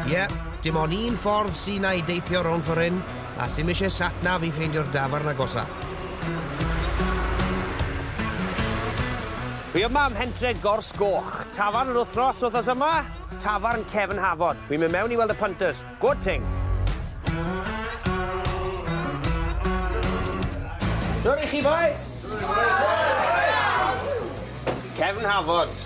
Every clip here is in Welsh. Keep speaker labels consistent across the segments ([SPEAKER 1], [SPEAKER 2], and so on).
[SPEAKER 1] Ie, yeah, dim ond un ffordd sy'n ei deithio rhwng ffordd hyn, a sy'n eisiau satnaf i ffeindio'r dafarn agosa. Fi yma am hentre gors goch. Tafarn yr wythnos, wythnos yma? Tafarn Cefn Hafod. Wi'n mynd mewn i weld y punters. Good thing. Siwr i chi, boys? Cefn Hafod.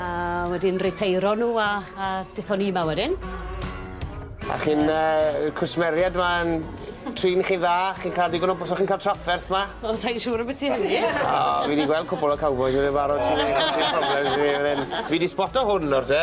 [SPEAKER 1] A wedyn riteiro nhw a a dethon ni 'ma wedyn. A chi'n yy cwsmeriaid 'ma yn trin chi'n dda, chi'n ca'l digon o b- so chi'n ca'l trafferth 'ma? Wel sai'n siŵr ambyti hynny. O fi 'di gweld cwpwl o cowbois yn barod sy sy problems i fi fan 'yn. Fi 'di sboto hwn nawr te.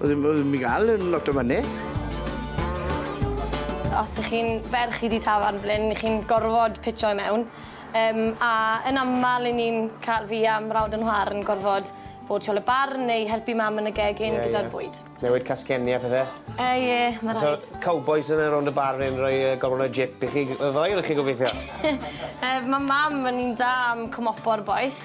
[SPEAKER 1] Oedd ddim ddim i gael yn lot o fyny. Os ych chi'n ferch chi di tafarn blin, ych chi'n gorfod pitio i mewn. Um, a yn aml i ni'n cael fi a mrawd yn nhwar yn gorfod bod siol y bar neu helpu mam yn y gegin yeah, gyda'r yeah. bwyd. Newid casgenni a pethau? E, uh, ie, yeah, mae'n rhaid. So, cowboys yn yr ond y bar yn rhoi uh, gorfod o'r jip i chi, y ddoen ych chi gobeithio? uh, mae mam yn un da am cymopor boes.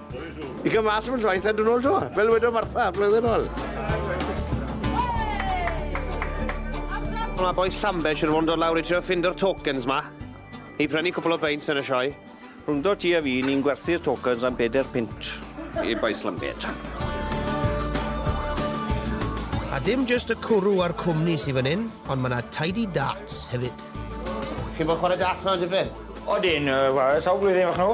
[SPEAKER 1] I gael mas am y traeth a dyn ôl to, fel wedo Martha, blwyddyn ôl. Mae boes Llambed sy'n fod yn dod lawr i trio ffindo'r tokens ma. I prynu cwpl o beins yn y sioe. Rwyndo ti a fi, ni'n gwerthu'r tokens am bedair pint. I boes Llambed. A dim just y cwrw a'r cwmni sy'n fan hyn, ond mae yna tidy darts hefyd. Chi'n bod chwarae darts mewn dipyn? O dyn, sawl blwyddyn o'ch nhw?